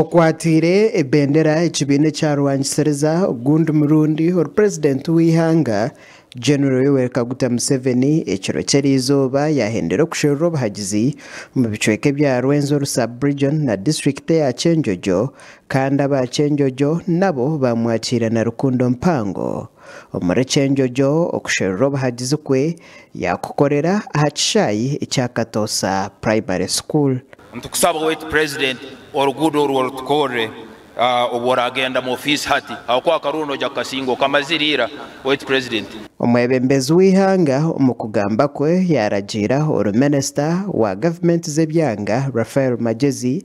Okwatiire ebendera ekibiina ekyarwangisiriza ogundi murundi ori purezidenti w'eihanga General Yoweri Kaguta Museveni ekiro ky'erizooba yahendera okusherura obuhagizi omu bicweka ebya Rwenzori sub region na disiturikiti eya Kyenjojo kandi aba Kyenjojo nabo bamwakira na rukundo mpango. Omuri Kyenjojo okusherura obuhagizi kwe yakukorera aha kishaayi ekya Katoosa Primary School. Nitukusaba Owaitu President oruguudo orwo rutukorre obu oragenda mu ofiisi hati ahabw'okuba akaruuru noija kukasinga okamazire ira Owaitu President. Omwebembezi w'eihanga omu kugamba kwe yaragiira oru Minister wa Gavumenti z'ebyanga Raphael Magyezi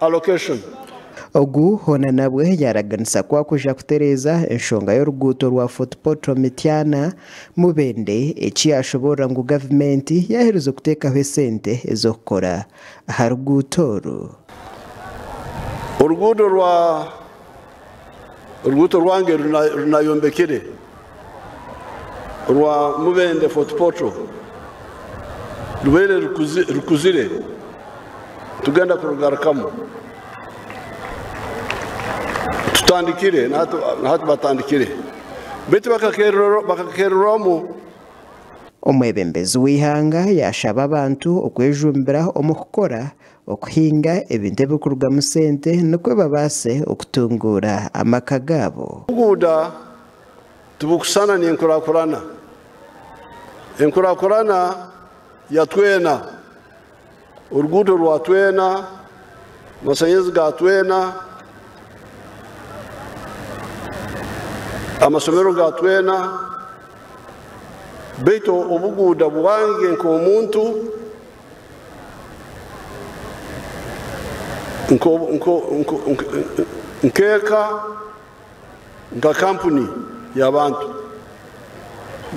allocation. Ogu hoona nabwe yaaraganisa ku arikuja kutereeza enshonga y'oruguuto rwa Fort Portal Mityana, Mubende eki yaashoboorora ngu gavumenti yaaherize kuteekaho esente ez'okukora aha ruguuto oru. Oruguuto rwa Oruguuto rwange runayombekire orwa Mubende Fort Portal rubaire rukuzire, tugenda kurugarukamu tutandikire n'ahu batandikire beitu bakakererwamu. Omwebembezi w'eihanga yashaba abantu okwejumbira omu kukora okuhinga ebintu ebirikurugamu sente nikwo babaase okutunguura amaka gaabo. Obuguuda tibukushushana n'enkurakurana. Enkurakurana ya twena, oruguuto rwa twena, amashanyarazi ga twena, amashomero ga twena, beitu obuguuda bwange nk'omuntu, Nk'eka, nka kampuni y'abantu,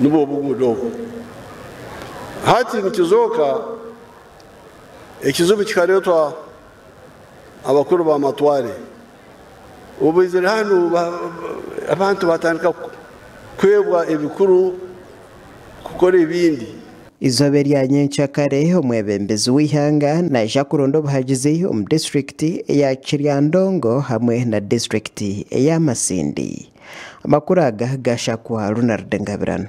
nibwo obuguuda obwo. Hati nikizooka ekizibu kikareetwa abakuru b'amatware. Obu baizire hanu, abantu baatandika kuhebwa ebikuru kukora ebindi. Eizooba erya nyenkya kare, omwebembezi w'eihanga naija kuronda obuhagizi omu disiturikiti eya Kiryandongo hamwe na disiturikiti eya Masindi. Amakuru aga ga Shakwa Ronald Ngabirano.